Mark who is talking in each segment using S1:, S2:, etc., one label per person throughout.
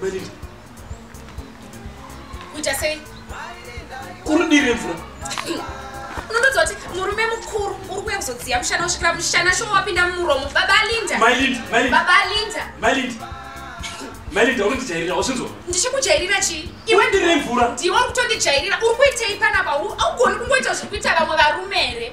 S1: Marinda.
S2: Kuita sei? Kuri
S1: diri mvura.
S2: Unondoziva kuti murume mukuru uri kuya kuzodziya mushana kusvikira mushana shoma wapinda mumuromo. Baba Linda. Mai Linda, Mai Linda. Baba Linda. Mai Linda. Mai
S1: Linda uri ndijairira wazvinzwa? Ndichikujairira chii?
S2: Iwe ndiri mvura.
S1: Ndiwe uri kutondijairira.
S2: Uri kuitei panapa? Augoni kungoita zviri kuita vamwe varume here?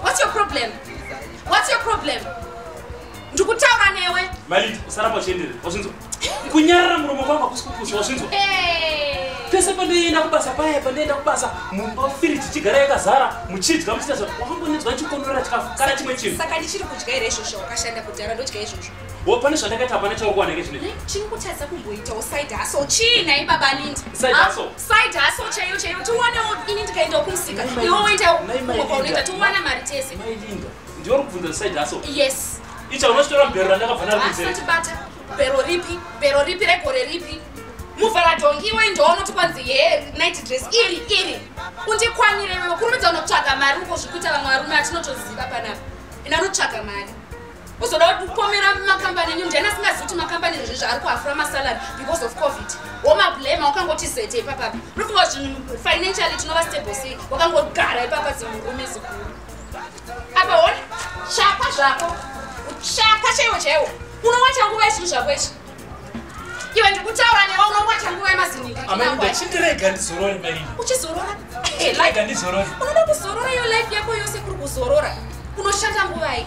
S2: What's your problem? What's your problem? Ndikutaura newe. Malita, usaramba
S1: uchienderera. Wazvinzwa? Kunyarara muromo kwako hakusi kupusa, wazvinzwa? Pese pandoenda kubasa paya pandoenda kubasa mumba firiji chigara yakazara muchidya muchita zvakambonetswa chikonorera chikafu kana chimwe chinhu. Saka ndichiri kudya here
S2: izvozvo wakashanda kudhara ndodya izvozvo. wo pane zvandakaita hapana
S1: chauri kuwana ke zvinei chiri kutadza kumboitawo
S2: side hustle chii nhai baba anindi side ah, hustle side
S1: hustle chaiyo chaiyo
S2: tiwanewo ini ndikaendawo kumusika iwe woendawo kwaunoita tiwana mari tese mailinda ndiwe uri
S1: kubvunza side hustle yes icha
S2: unochitora
S1: mbero randakabva naro kunzeatibata bero
S2: ripi bero ripi regore ripi muvhara dhongi iwe ndoonoti kwanzi he night dress iri iri undikwanire iwe kurumidza unotsvaga mari uko zvikuita vamwe varume atinotoziva panapa ina unotsvaga mari kuzoda kupomera makambani enyu ndiani asingazivi kuti makambani izvi zvaari kuhafura masalary because of covid womablema wakangoti zete ipapa unofunga zvinhu financially tinova stable sei wakangogara ipapa zimurume zikuru apa hone chapa zvako chapa chaiwo chaiwo unowacha nguva yezvinhu zvako izvi iwe ndikutaura newe unowacha nguva yemaziningaachindirega
S1: ndizorore mai uchizorora unoda kuzorora iyo
S2: life yako yose kuri kuzorora unoshanda nguvai